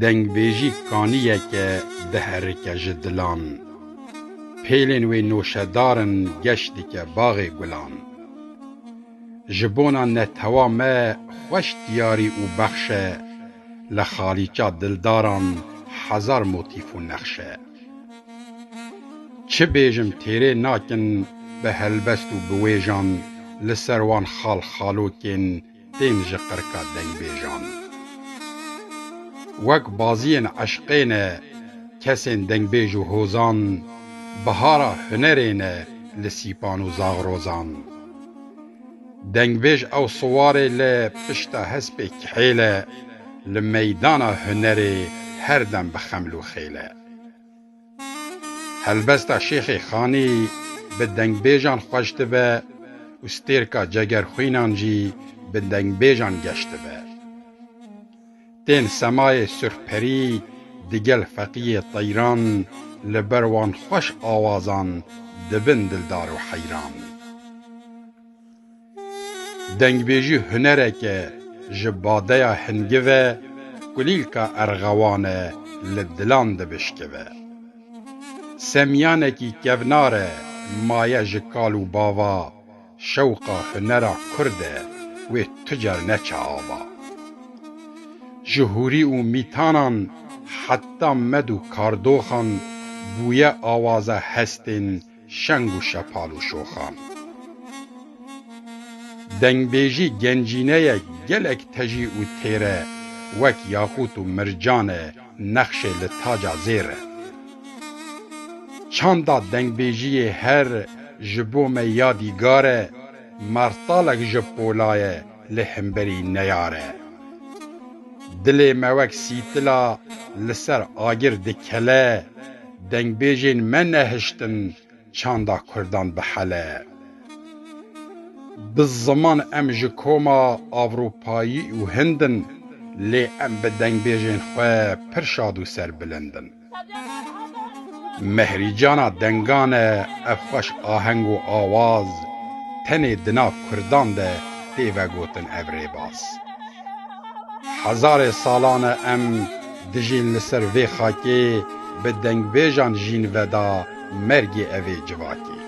Dengbêjî kaniyeke diherike ji dilan. Pêlên wê noşedar in geş dike baxê gulan. Ji bona netewa me xweş diyarî û bexş e, li xalîça dildaran hezar motîf û nexş e. Çi bêjim têrê nakin bi helbest û bi wêjan li ser wan xal xalokên tên ji qirka dengbêjan. Wek baziyên eşqê ne kesên dengbêj û hozan, bihara hunerê ne li sîpan û zaxrozan. Dengbêj ew siwarê li pişta hespê kihêl e, li meydana hunerê her dem bi xeml û xêl e. Helbesta Şêxê Xanî bi dengbêjan xweş dibe û stêrka Cegerxwînan jî bi dengbêjan geş dibe. Tên semayê surxperî digel feqiyê teyran li ber wan xweş awazan dibin dildar û heyran. Dengbêjî hunerek e, ji badeya hingi ve kulîlka erxewan e li dilan dibişkive. Semîyanekî kevnar e, maye ji kal û bava, şewqa hunera Kurd e, wê tu car neçe ava. Ji hûrî û mîtanan heta med û kardoxan bûye awaza hestên Şeng û şepal û şoxan. Dengbêjî gencîneyek gelek tejî û têr e, wek yaxût û mircan e, nexşê li taca zêr e. Çanda dengbêjiyê her ji bo me yadîgar e, martalek ji pola ye lê hemberî neyar e. Dilê me wek sîtila li ser agir dikele. Dengbêjên me nehiştin çanda kurdan bihele. Bi ziman em ji koma Ewropayî û Hind in lê em bi dengbêjên xwe pir şad û serbilind in. Mehrîcana dengan e ev xweş aheng û awaz tenê di nav kurdan de tê vegotin ev rêbaz. Hezarê salan e em dijîn li ser vê xakê bi dengbêjan jîn veda mergê evê civakê.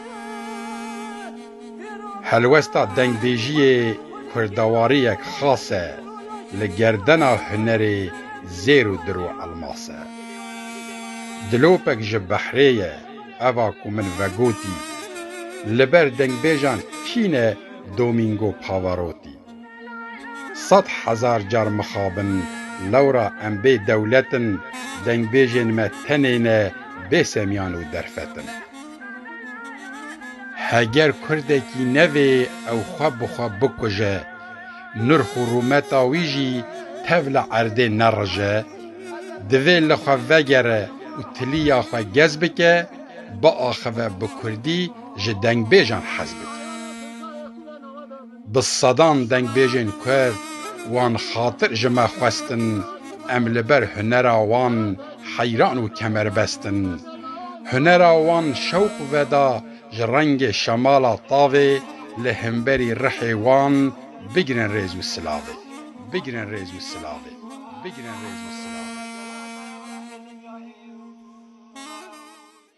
Helwesta dengbêjiyê kurdewariyek xas e, li gerdena hunerê zêr û dir û elmas e. Dilopek ji behrê ye, eva ku min vegotî, li ber dengbêjan kî ne Domingo Pavarotti? Sed hezar car mixabin, lewra em bê dewlet in, dengbêjên me tenê ne bêsemiyan û derfet in. Heger kurdekî nevê ew xwe bi xwe bikuje, nirx û rûmeta wî jî tev li erdê nerije, divê li xwe vegere û tiliya xwe gez bike, biaxive bi kurdî ji dengbêjan hez bike. Bi sedan dengbêjên Kurd wan xatir ji me xwestin, em li ber hunera wan heyran û kemerbest in. Hunera wan şewq veda ji rengê şemala tavê li himberî rihê wan bigirin rêz û silavê. Bigirin rêz û silavê. Bigirin rêz û silavê.